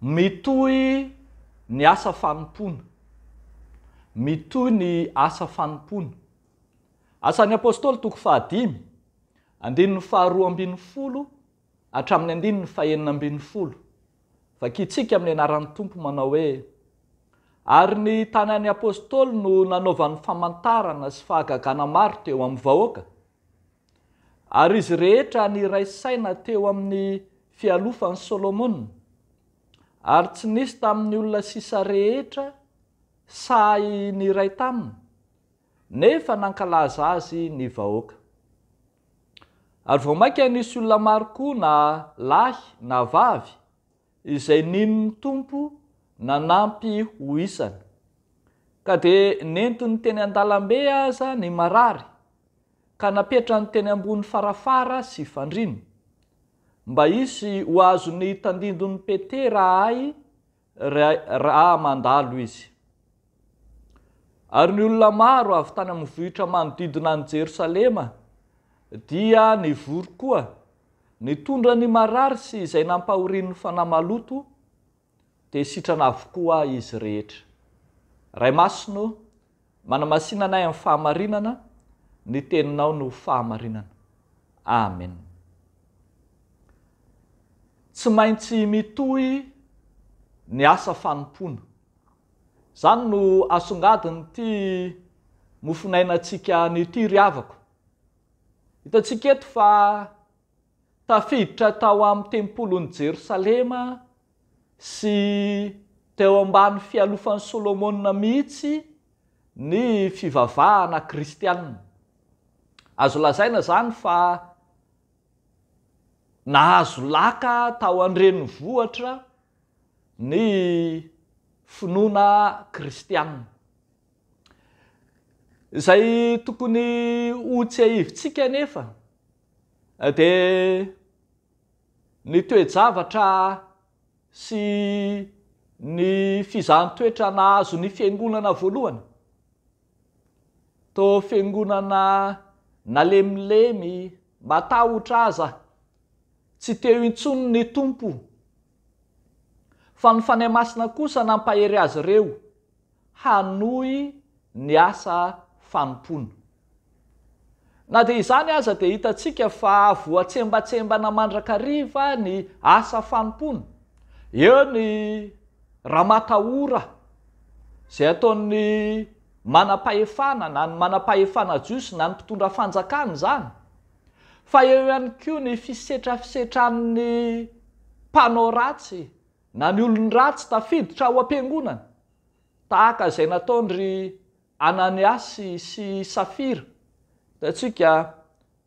Mitohy ny asa fanompoana. Mitohy ny asa fanompoana. Asan'ny Apôstôly toko fahadimy, andininy faharoa ambin'ny folo hatramin'ny andininy fahenina ambin'ny folo. Vakintsika amin'ny anaran'ny Tompo manao hoe, Ary ny tanan'ny Apôstôly no nanaovany famantarana sy fahagagana maro teo amin'ny vahoaka, Ary izy rehetra niray saina teo amin'ny fialofan'i Solomona, ary tsy nisy tamin'ny olona sisa rehetra sahy niray taminy, nefa nankalaza azy ny vahoaka. Ary vao mainka nisy olona maro koa na lahy na vavy izay nino ny Tompo nanampy ho isany, ka dia nentiny teny an-dalambe aza ny marary, ka napetrany teny ambony farafara sy fandriana, mba hisy ho azony tandindon'i Petera ahy raha mandalo izy. Ary ny olona maro avy tany amin'ny vohitra manodidina an'i Jerosalema dia nivory koa, nitondra ny marary sy izay nampahorian'ny fanahy maloto, dia sitrana avokoa izy rehetra. Ray Masina ô, manamasina anay amin'ny fahamarinana, ny Teninao no fahamarinana. Amen. Tsy maintsy mitohy ny asa fanompoana. Zany no asongadiny ty mofonaina tsika anio ty ry havako. Hitantsika eto fa tafiditra tao am tempolin'i Jerosalema sy teo ambany fialofan'i Solomona mihitsy ny fivavahana kristiana. Azo lazaina zany fa nahazo laka tao an-drenivohitra ny finoana kristianina. Izay tokony ho tsiahivintsika anefa dia ny toe-javatra sy ny fizahan-toetra nahazo ny fiangonana voalohany, toa fiangonana nalemilemy, matahotra aza, tsy teo intsony ny Tompo Fa ny Fanahy Masina kosa nampahery azy ireo hanohy ny asa fanompoana. Na dia izany aza dia hitantsika fa voatsembatsembana mandrakariva ny asa fanompoana. Eo ny ramatahora izay ataon'ny manam-pahefana, na ny manam-pahefana jiosy na ny mpitondra fanjakana izany. fa eo ihany koa ny fisetrafisetra amin'ny mpanao ratsy na ny olon-dratsy tafiditra ao am-piangonana, tahaka izay nataon-dry Ananiasy sy Safira. Hitantsika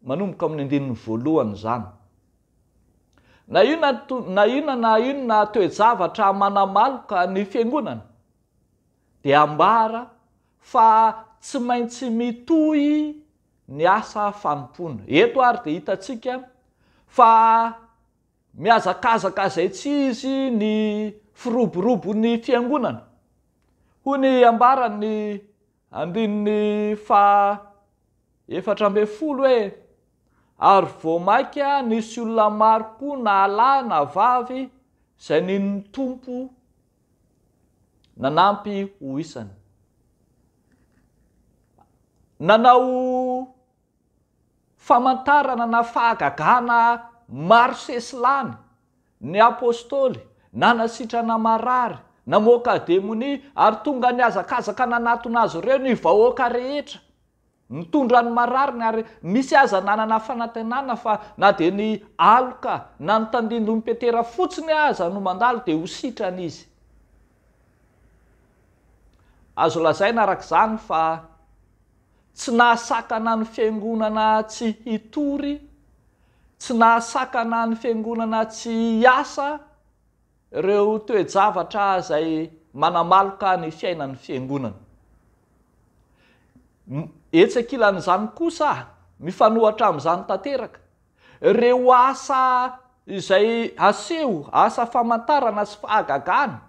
manomboka amin'ny andininy voalohany izany. Na inona na inona na inona toe-javatra manamaloka ny fiangonana dia ambara fa tsy maintsy mitohy ny asa fanompoana. Eto ary dia hitantsika fa mihazakazaka izay tsy izy ny firoborobon'ny fiangonana. Hoy ny ambaran'ny andininy faha efatra ambin'ny folo hoe, Ary vao mainka nisy olona maro koa na lahy na vavy izay nino ny Tompo, Nanampy ho isany. Nanao famantarana na fahagagana maro sesilany ny Apostoly, nanasitrana marary, namoaka demonia, ary tonga nihazakazaka nanatona azy ireo ny vahoaka rehetra. Mitondra ny marariny ary misy aza nanana fanantenana fa na dia ny aloka na ny tandindon'i Petera fotsiny aza no mandalo dia ho sitrana izy. Azo lazaina araka izany fa tsy nahasakana ny Fiangonana tsy hitory, tsy nahasakana ny Fiangonana tsy hiasa, Ireo toe-javatra izay manamaloka ny fiainan'ny Fiangonana. Etsy ankilan'izany kosa, mifanohatra amin'izany tanteraka, ireo asa izay aseho, asa famantarana sy fahagagana,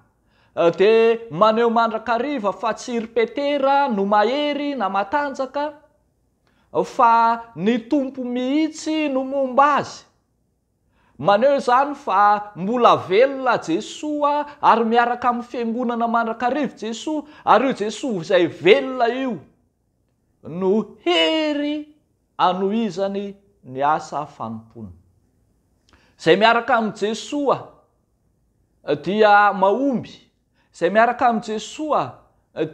dia maneho mandrakariva fa tsy i ry Petera no mahery na matanjaka, fa ny Tompo mihitsy no momba azy. Maneho izany fa mbola velona Jesoa ary miaraka amin'ny Fiangonana mandrakariv Jesoa, ary io Jesoa izay velona io no hery anohizany ny asa fanompoana. Izay miaraka amin'i Jesoa dia mahomby Izay miaraka amin'i Jesoa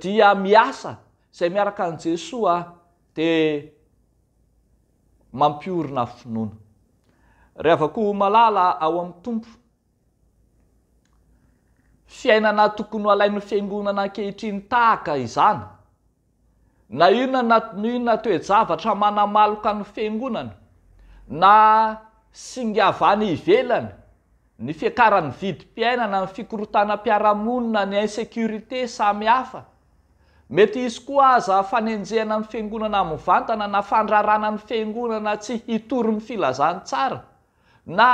dia miasa, izay miaraka amin'i Jesoa dia mampiorina finoana. Ry havako malala ao amin'ny Tompo, fiainana tokony ho alain'ny Fiangonana ankehitriny tahaka izany. Na inona na inona toe-javatra manamaloka ny Fiangonana, na singa avy any ivelany, ny fiakaran'ny vidim-piainana, ny fikorontanam-piarahamonina, ny insécurité samy hafa. Mety hisy koa aza fanenjehana ny Fiangonana mivantana na fandrarana ny Fiangonana tsy hitory ny filazantsara, na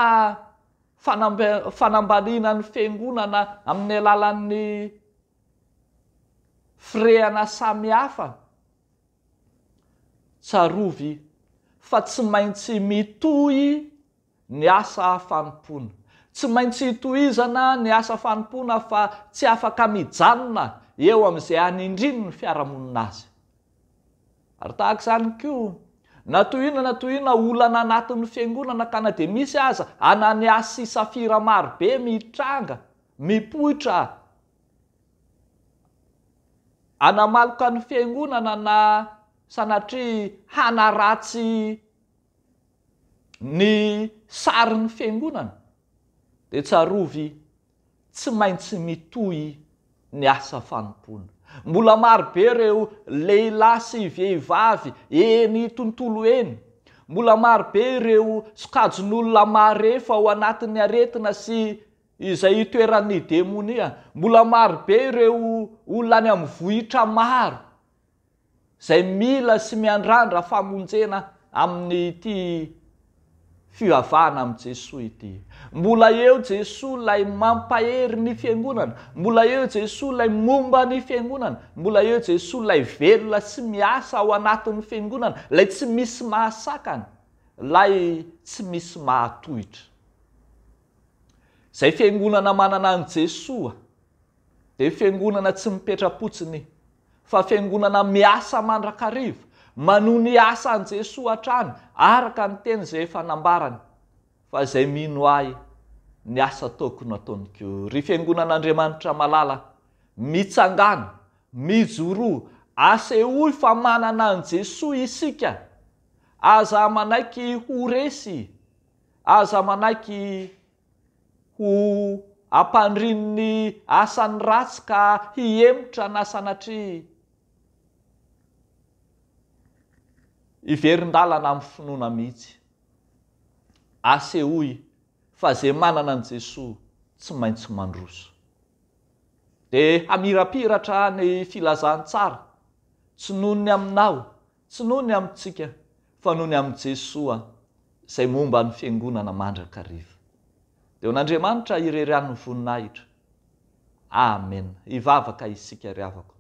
fanambaliana ny Fiangonana amin'ny alalan'ny. Firehana samihafa. Tsarovy fa tsy maintsy mitohy ny asa fanompoana. Tsy maintsy itohizana ny asa fanompoana fa tsy afaka mijanona eo amin'izay anindrin'ny fiarahamonina azy. Ary tahaka izany koa, na tohina na tohina olana anatin'ny fiangonana ka na dia misy aza Ananiasy sy Safira marobe mitranga, Mipoitra aho. Hanamaloka ny fiangonana na sanatria hanaratsy ny sarin'ny fiangonana dia tsarovy tsy maintsy mitohy ny asa fanompoana. Mbola marobe ireo lehilahy sy vehivavy eny tontolo eny. Mbola marobe ireo sokajin'olona marefo ao anatin'ny aretina sy. izay itoeran'ny demonia. Mbola maro be ireo olona any amin'ny vohitra maro izay mila sy miandrandra famonjena amin'ity fivavahana amin'i Jesoa ity. Mbola eo Jesoa ilay mampahery ny Fiangonana, mbola eo Jesoa ilay momba ny Fiangonana, mbola eo Jesoa ilay velona sy miasa ao anatin'ny Fiangonana, ilay tsy misy mahasakana, ilay tsy misy mahatohitra. Izay fiangonana manana an'i Jesoa dia fiangonana tsy mipetra-potsiny fa fiangonana miasa mandrakariva manohy ny asan'i Jesoa hatrany araka ny teny izay efa nambarany fa izay mino Ahy ny asa ataoko no ataony koa. Ry fiangonan'Andriamanitra malala, mitsangàna, mijoroa, asehoy fa manana an'i Jesoa isika, aza manaiky ho resy. Aza manaiky ho ampandrin'ny asan'ny ratsy ka hihemotra na sanatria hiverin-dalana amin'ny finoana mihitsy. Asehoy fa izay manana an'i Jesoa tsy maintsy mandroso. Dia hamirapiratra ny filazantsara tsy noho ny aminao Tsy noho ny amintsika, fa noho ny amin'i Jesoa, izay momba ny Fiangonana mandrakariva. Dia ho an'Andriamanitra irery ihany ny voninahitra. Amena. Hivavaka isika, ry havako.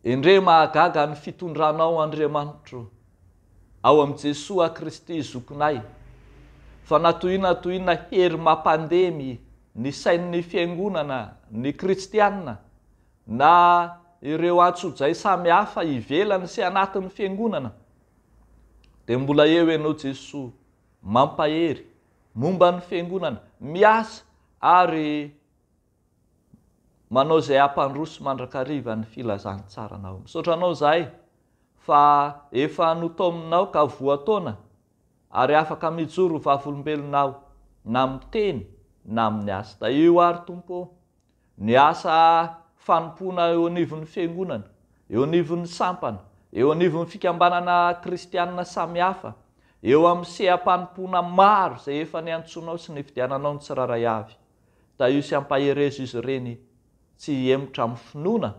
Endrey mahagaga ny fitondranao, Andriamanitro, ao amin'i Jesoa Kristy Zokinay, fa na toy inona na toy inona hery mampandemy ny sain'ny Fiangonana, ny Kristiana, na ireo antsojay samy hafa ivelany sy anatin'ny fiangonana, dia mbola eo ianao Jesoa, mampahery, momba ny fiangonana, miasa ary manao izay hampandroso mandrakariva ny filazantsaranao. Misaotra Anao izahay fa efa notaominao ka voataona ary afaka mijoro ho vavolombelonao na miteny na amin'ny asa. Tahio ary Tompo ô! ny asa fanompoana eo anivon'ny fiangonana, eo anivon'ny sampana, eo anivon'ny fikambanana kristianina samihafa, eo amin'ny seha-panompoana maro izay efa niantsoanao sy nividiananao ny tsirairay avy. Tahio sy ampaherezo izy ireny tsy hihemotra amin'ny finoana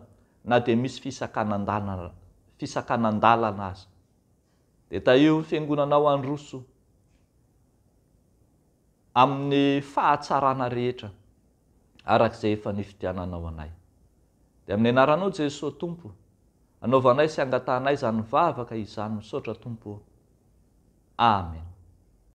na dia misy fisakanan-dalana fisakanan-dalana aza. Dia tahio ny fiangonanao handroso. amin'ny fahatsarana rehetra araka izay efa nifidiananao anay. Dia amin'ny anaranao Jesoa Tompo anaovanay sy angatahanay izany vavaka izany misaotra Tompo ô. Amen.